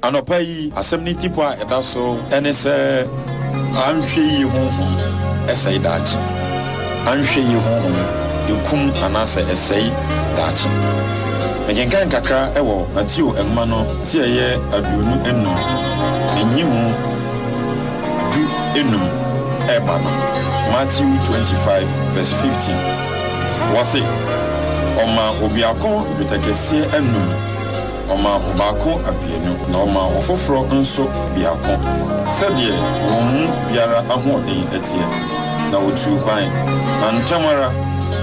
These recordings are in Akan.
Anɔpa yi, asɛm no tipɔ a ɛda so ne sɛ anhwɛyie honhom sɛe daakye. Anhwɛyie honhom kum anaasɛ ɛsɛe daakye. Mekenkan kakra wɔ Mateo nwoma no ti a ɛyɛ aduonu nnum ne nyimu du nnum reba no, Matthew twenty five verse fifteen. Wɔse, Ɔmaa obiako dwetɛ kɛseɛ anum. Ɔma ɔbaako aduonu, na ɔma ɔfoforɔ nso biako, sɛdeɛ wɔn mu biara ahoɔden teɛ, na wɔtuu kwan. Na ntɛm ara,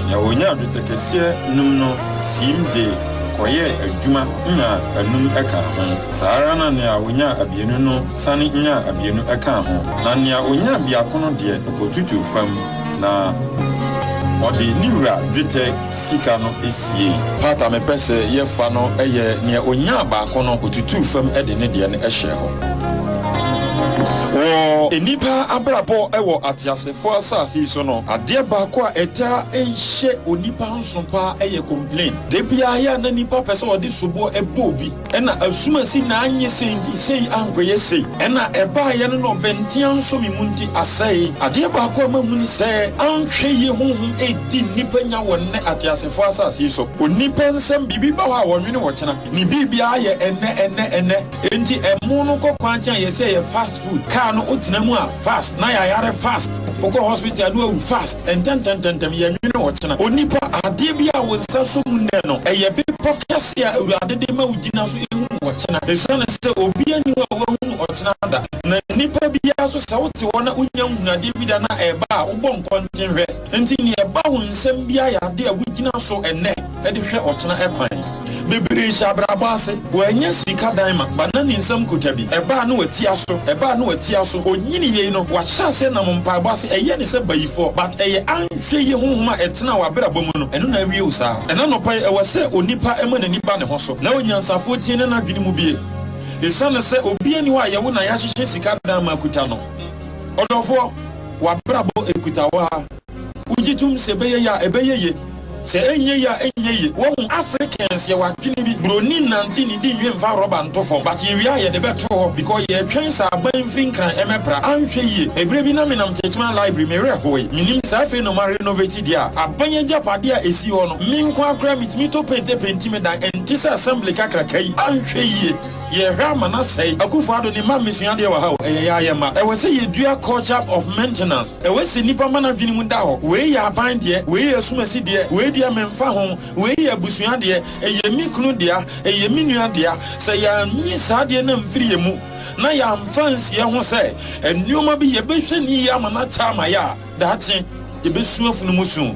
deɛ ɔnyaa dwetɛ kɛseɛ num no siim de kɔyɛɛ adwuma nyaa anum kaa ho. Saa ara na nea ɔnyaa aduonu no sane nyaa aduonu kaa ho, na nea ɔnyaa biako no deɛ, ɔkɔtutuu fam, na ɔde ne wura dwetɛ sika no siei. Part a mepɛ sɛ yɛfa no yɛ nea onyaa baako no, otutuu fam de ne deɛ no hyɛɛ hɔ. Wɔ nnipa abrabɔ wɔ ateasefo asase yi so no, adeɛ baako a ɛtaa hyɛ onipa nso paa yɛ complain. Da biara yɛ a na nnipa pɛ sɛ wɔde soboɔ bɔ obi. Ɛna asumasi na anyɛ sei nti sei ankɔyɛ sei. Ɛna ɛbaeɛ no na ɔbɛnte ansɔ me mu nti asɛe. Adeɛ baako a mahu ne sɛ, anhwɛ yie honhom redi nnipa nya wɔ nnɛ ateasefoɔ asase yi so. Onipa nsɛm, biribi ba hɔ a wɔnwene wɔ kyena. Ne biribiara yɛ ɛnnɛ, ɛnnɛ, ɛnnɛ. Enti ɛmo no kɔ kwan kyɛn yɛ sɛ ɛyɛ fast food. Car no wotena mu a, fast. Na yɛayare fast. Wokɔ hospital no awu fast ntɛntɛntɛntɛm yɛnwene ɔkyena onipa adeɛ bi a wo nsa so mu nnɛ no ɛyɛ bepɔ kɛse a awurade de ma wo gyina so ehunu ɔkyena esiane sɛ obi ani hɔ a wahunu ɔkyena da na nipa biara so sɛ wote hɔ na wonya nhunu adeɛ bi da na ɛba a wobɔ nkɔnten hwɛ nti nea ɛba wo nsam biara yɛ adeɛ a wogyina so ɛnnɛ. de hwɛ ɔkyena ɛkwan. Bebree hyɛ abrabɔ ase, wɔanya sika dan ma, ba na ne nsam kuta bi, ɛba a na wati aso, ɛba a na wati aso, ɔnyini yei no, wahyɛ aseɛ nam mpaebɔ ase, ɛyɛ ne sɛ bayifoɔ, but ɛyɛ anhwɛ yie honhom a ɛtena w'abrabɔ mu no, ɛno na awie wo saa. Ɛna anɔpa yi ɛwɔ sɛ onipa ma n'ani ba ne ho so, na onyansafoɔ tie na n'adwene mu bie. Esiane sɛ obiara nni hɔ a yɛwo na yɛahyehyɛ sika dan ma akuta no, ɔdɔfoɔ, w'abrabɔ ɛkuta wo ara. Wogye tom sɛ ɛbɛyɛ ye a, ɛbɛyɛ ye, sɛ ɛnyɛ ye a, ɛnyɛ ye. Wahu, Africans yɛwɔ adwene bi, buroni nnante ne di nwi mfa rɔba nto fam, but yɛwie a yɛde bɛto hɔ because yɛretwɛn sɛ aban mfiri Nkran ɛmɛpra. Anhwɛ yie, ɛberɛ bi na menam Techiman Library, me werɛ hoe. Menim sɛ afei no moarenovate deɛ a aban agyapadeɛ a ɛsi hɔ no. Me nko ara koraa metumi tɔ paint penti me dan, ɛnte sɛ Assembly kakraka yi. Anhwɛ yie, yɛrehwɛ ama no asɛe. Akufo-Addo ne mma mmesua adeɛ wɔ ha o, ɛyɛ yɛa yɛ mma. Ɛwɔ sɛ yɛdua culture of maintenance. Ɛwɛ sɛ nnipa ma n'adwene mu da hɔ, wei yɛ aban deɛ, wei yɛ asumasi deɛ, wei deɛ memfa ho, wei yɛ abusua deɛ, ɛyɛ me kunu dea, ɛyɛ me nua dea. Sɛ yɛannye saa adeɛ no amfiri yɛn mu na yɛamfa ansie ho sɛ nneɛma bi yɛbɛhwɛ no yie ama no akyɛ ama yɛn a, daakye yɛbɛsu afunu mu su.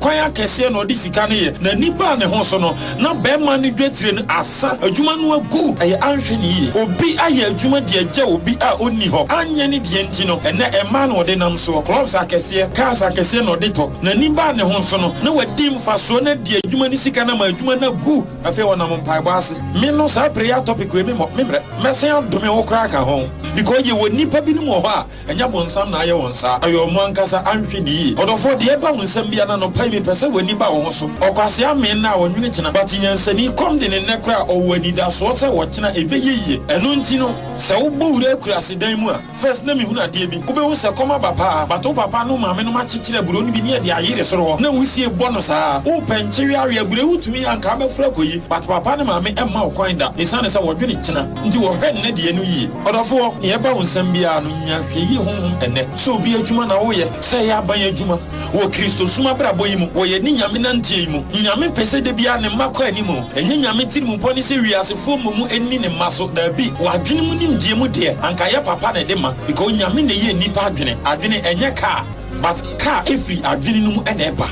Kwan akɛseɛ na ɔde sika no yɛ, na nnipa a ne ho so no, na barima no dwetire no asa, adwuma no agu, ɛyɛ anhwɛ no yie. Obi ayɛ adwuma de agya obi a ɔnni hɔ, anyɛ ne deɛ nti no, ɛnnɛ mmaa na ɔde nam soɔ, clubs akɛseɛ, cars akɛseɛ na ɔde tɔ, na nnipa a ne ho so no, na wadi mfasoɔ no adi adwuma no sika no ama adwuma no agu, afei ɔnam mpaebɔ ase. Me no saa prayer topic wei me mmɔ, me mmerɛ, mɛsan adome wo koraa aka ho, because yɛwɔ nnipa binom wɔ hɔ a, Ɛnyɛ bonsam na ayɛ wɔn saa, ɛyɛ wɔn ankasa, anhwɛ no yie. Ɔdɔfoɔ, deɛ ɛba wo nsam biara no, anɔpa yi mepɛ sɛ w'ani ba wo ho so. Ɔkwasea mmee nnɛ a ɔnwene kyena, but nyansani kɔm de no nnɛ koraa, ɔwɔ anidasoɔ sɛ ɔkyena ɛbɛyɛ yie. Ɛno nti no, sɛ wobɔ wura akuraase dan mu a, first na mehunu adeɛ bi, wobɛhu sɛ kɔm aba paa, but wo papa ne wo maame nom akyekyere aburo no bi ne ɛde ayere soro hɔ, na wosie bɔ no saa. Wopɛ nkyeweawe aburo yi, wotumi yɛ a, anka abɛforo akɔyi, but papa ne maame mma wo kwan da, ɛsiane sɛ wɔdwene kyena. Nti wɔhwɛ nnɛ deɛ no yie. Ɔdɔfoɔ, deɛ ɛba wo nsam biara no, nya hwɛyie honhom ɛnnɛ sɛ obi adwuma na woyɛ, sɛ ɛyɛ aban adwuma, wɔ Kristosom abrabɔ yi mu, wɔ yɛne Nyame nanteɛ yi mu. Nyame pɛ sɛ da biara Ne mma kɔ anim. Ɛnyɛ Nyame tirimupɔ ne sɛ wiasefoɔ mmom nni Ne mma so, daabi, wɔ adwene mu nimdeɛ mu deɛ, anka ɛyɛ papa na ɛde ma, because Nyame na ɛyɛ nnipa adwene. Adwene, ɛnyɛ car, but car firi adwene no mu na ɛba.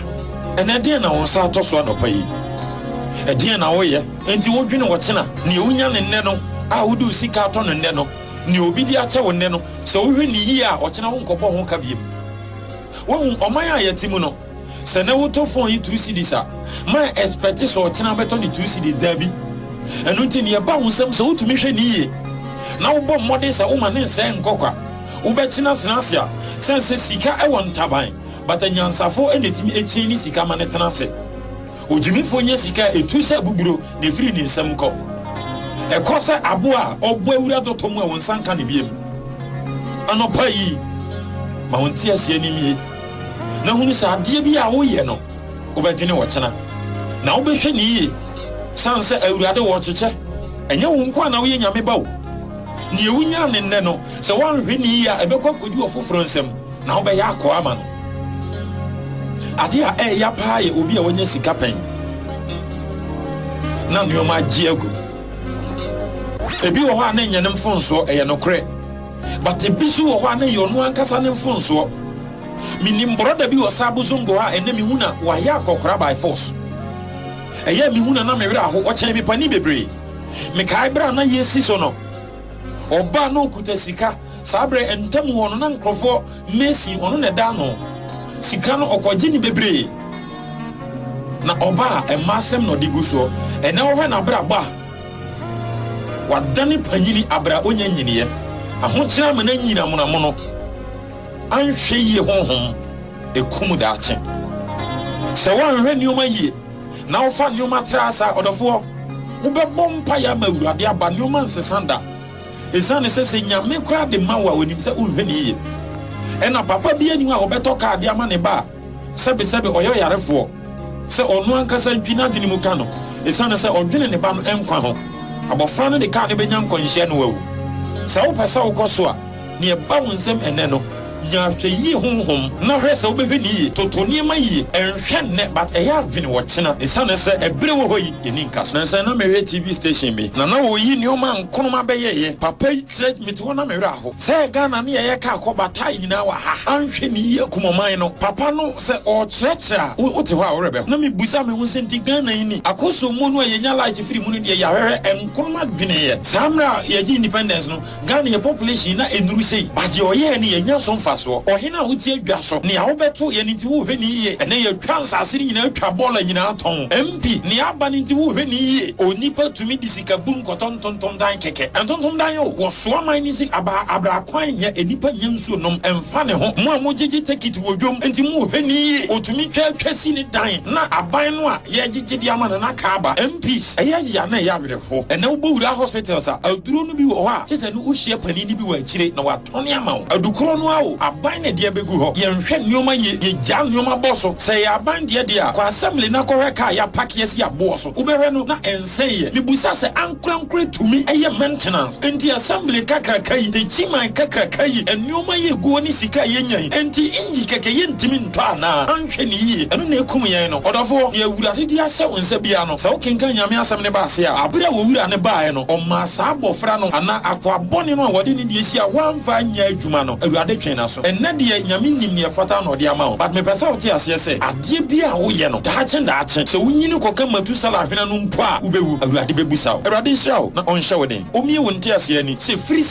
Ɛnɛ, ɛdeɛn na wo nsa atɔ so anɔpa yi? Ɛdeɛn na woyɛ? Enti wodwene ɔkyena, nea wunya no nnɛ no, a wode wo sika atɔ no nnɛ no, nea obi de akyɛ wo nnɛ no, sɛ wohwɛ no yiye a, ɔkyena wonkɔbɔ ho ka bio. Woahu, ɔman a yɛte mu no, sɛ nnɛ wotɔ fon yi two cedis a, ma expect sɛ ɔkyena wobɛtɔ no two cedis, dabi. Ɛno nti, nea ɛba wo nsam, sɛ wutumi hwɛ no yiye, na wobɔ mmɔden sɛ woma no nsɛe nkɔ kwa, wobɛkyena tena ase a, sɛn sɛ sika wɔ ntaban, but anyansafo na etumi chaini sika ma no tena ase. Ogyimifo nyɛ sika a etu sɛ boburo na efiri ne nsam kɔ. Ɛkɔ sɛ abo a ɔbɔ awura dɔtɔ mu a wɔn nsa nka no biom. Anɔpa yi, ma wo nteaseɛ no mmue na hunu sɛ adeɛ bi a woyɛ no, wobɛdwene ɔkyena. Na wobɛhwɛ no yie sane sɛ Awurade ɔrekyekyɛ. Ɛnyɛ wo nko ara na woyɛ Nyame ba o. Deɛ wonya no nnɛ no, sɛ woanhwɛ no yie a, ɛbɛkɔ akɔdu ɔfoforɔ nsam na wobɛyɛ akoa ama no. Ade a ɛyɛ ya paa yɛ obi a wanya sika pɛn na nneɛma agye agu. Ebi wɔ hɔ a na ɛnyɛ ne mfonsoɔ, ɛyɛ nokorɛ. But ebi so wɔ hɔ a na ɛyɛ ɔno ankasa ne mfonsoɔ. Menim brɔda bi wɔ Sabo Zongo ha a ɛnɛ mehu na wayɛ akɔkora by force. Ɛyɛ mehu na na me werɛ aho, ɔkyɛn me panin bebree. Mekae berɛ a na yɛresi so no, ɔbaa na ɔkuta sika. Saa berɛ ntam hɔ no na nkurɔfoɔ Mercy ɔno na ɛda ano sika no ɔkɔgye ne bebree na ɔba a ɛma asɛm na ɔde gu soɔ ɛnɛ wohwɛ n'abrabɔ a wadane panyini abra ɔnya nyiniɛ ahokyerɛ ama no anyini amonamono anhwɛ yie honhom ɛkum daakye sɛ woanhwɛ nneɛma yie na wofa nneɛma tra saa ɔdɔfoɔ wobɛbɔ mpa yɛ ama awurade aba nneɛma nsesa da Esiane sɛ sɛ Nyame koraa de ma wo a onim sɛ wonhwɛ no yiye. Ɛna papa biara nni hɔ a ɔbɛtɔ kaa de ama ne ba a sɛbesɛbe ɔyɛ ɔyarefoɔ sɛ ɔno ankasa ntwi n'adwene mu ka no esiane sɛ ɔdwene ne ba no nkwa ho. Abɔfra no de kaa no bɛnya nkwanhyia na wawu. Sɛ wopɛ sɛ wokɔ so a, Nea ɛba wo nsam ɛnnɛ no, nya ahwɛyie honhom na hwɛ sɛ wobɛhwɛ no yie. Toto nneɛma yie. Ɛnhwɛ nnɛ but ɛyɛ adwene ɔkyena ɛsiane sɛ ɛberɛ wɔ hɔ yi ɛnni nkaso. Nansa yi na mehwɛ TV station bi na na wɔyi nnoɔma a Nkrumah bɛyɛeɛ papa yi kyerɛ mete hɔ na me werɛ aho sɛ Ghana ne yɛyɛ car kɔ bataa nyinaa wɔ ha anhwɛ no yie akum ɔman no papa no sɛ ɔrekyerɛkyerɛ a wo wote hɔ a wo werɛ bɛho na mebisa me ho sɛ nti Ghana yi ni akɔsommo no a yɛnya light firi mu no deɛ yɛahwɛhwɛ Nkrumah dweneeɛ saa mmerɛ a yɛgye independence no Ghana yɛ population na enuru sei but deɛ ɔyɛɛ no yɛnnya so mfasoɔ. Ɔhene a wote adwa so, nea wobɛto yɛn nti wohwɛ no yie. Ɛnɛ yɛatwa nsase no nyinaa atwa bɔɔla nyinaa tɔn. MP, nea aba no nti wohwɛ no yie. Onipa tumi de sika bun kɔtɔ ntontomdan kɛkɛ. Ntontomdan o, wɔsoa man no si aba abra kwan nya enipa nya nsuo nom ɛnfa ne ho. Mo a mogyegye tekit wɔ dwom nti moɔhwɛ no yie. Otumi twa atwa si ne dan na aban no a yɛgyegye de ama no na aka aba. MPs, ɛyɛ ya na ɛyɛ awerɛ. hɔ. Ɛnɛ wobowura hospitals a, aduro no bi wɔ hɔ a gye sɛ no wohyia panin no bi wɔ akyire na watɔne ama wo. Adu korɔ no ara o, aban na ɛde abɛgu hɔ. Yɛnhwɛ nnoɔma yie, yɛgyaa nnoɔma bɔ so. Sɛ ɛyɛ aban deɛ deɛ a, kɔ assembly na kɔhwɛ kaa a yɛapake asi aboɔ so. Wobɛhwɛ no na ɛnsɛeɛ. Mebisa sɛ ankorankorɛ tumi yɛ maintenance? Enti assembly kakraka yi, takyiman kakraka yi, nnoɔma yi ɛgu hɔ ne sika a yɛnya yi, enti nyi kɛkɛ yɛntumi. tɔ anaa? Anhwɛ no yiye, ɛno na ekum yɛn no. Ɔdɔfo, nea Awurade de ahyɛ wo nsa biara no, sɛ wokenkan Nyame Asɛm no ba ase a, bere a Owura no bae no, Ɔmaa saa abofra no, anaa akoa bɔne no a wɔde ne deɛ ahyia a wamfa anyɛ adwuma no, Awurade twee n'aso. Ɛnnɛ deɛ, Nyame nim nea ɛfata na Ɔde ama wo. But mepɛ sɛ wote aseɛ sɛ, adeɛ biara a woyɛ no, daakye daakye, sɛ wonyini kɔka Matusala ahwena no mpo a, wobɛwu. Awurade bɛbusa wo. Awurade nhyira wo na Ɔnhyɛ wo den. Omie wo nteaseɛ ani, sɛ firi.